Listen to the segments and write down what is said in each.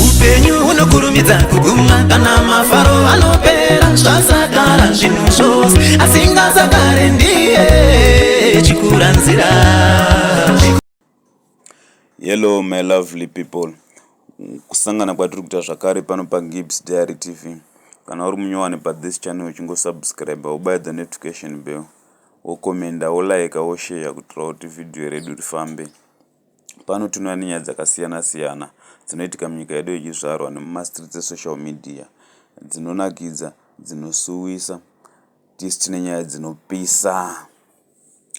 upenyu hunokurumidza kuguma kana mafaro anopera zvasagara zvinhu zvose asingazagare ndiye chikura nzira hello my lovely people kusangana kwatiri kuita zvakare pano pagibs diary tv kana uri munyowani pathis channel uchingosubscribe wobuy the notification bell wokomenda wolike woshare kutirawo kuti vhidhiyo redu rifambe Pano tinouya nenyaya dzakasiyana siyana dzinoitika munyika yedu yechizvarwa nemumastreets esocial media. Dzinonakidza, dzinosuwisa tisu tine nyaya dzinopisa.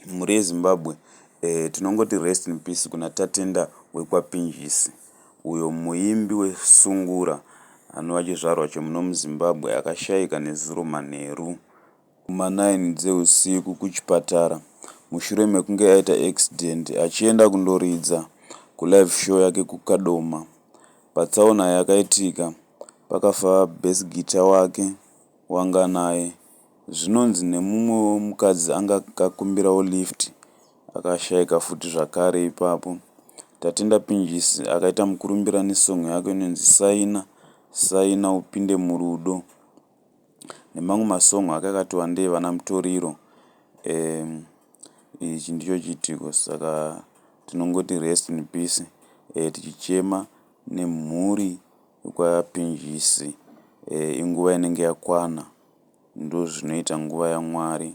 Mhuri yeZimbabwe eh, tinongoti rest in peace kuna Tatenda wekwaPinjisi uyo muimbi wesungura anova chizvarwa chemuno muZimbabwe akashaika nezuro manheru. kuma nine dzehusiku kuchipatara mushure mekunge aita accident achienda kundoridza kulive show yake kuKadoma. Patsaona yakaitika pakafa bass guitar wake waanga naye. Zvinonzi nemumwe wemukadzi anga akakumbirawo lift akashaika futi zvakare ipapo. Tatenda Pinjisi akaita mukurumbira nesong yake inonzi Saina saina upinde murudo. nemamwe masong ake akatova ndeevana Mutoriro um ichi ndicho chiitiko saka tinongoti rest in peace um tichichema nemhuri yekwaPinjisi um inguva inenge yakwana ndozvinoita nguva yaMwari.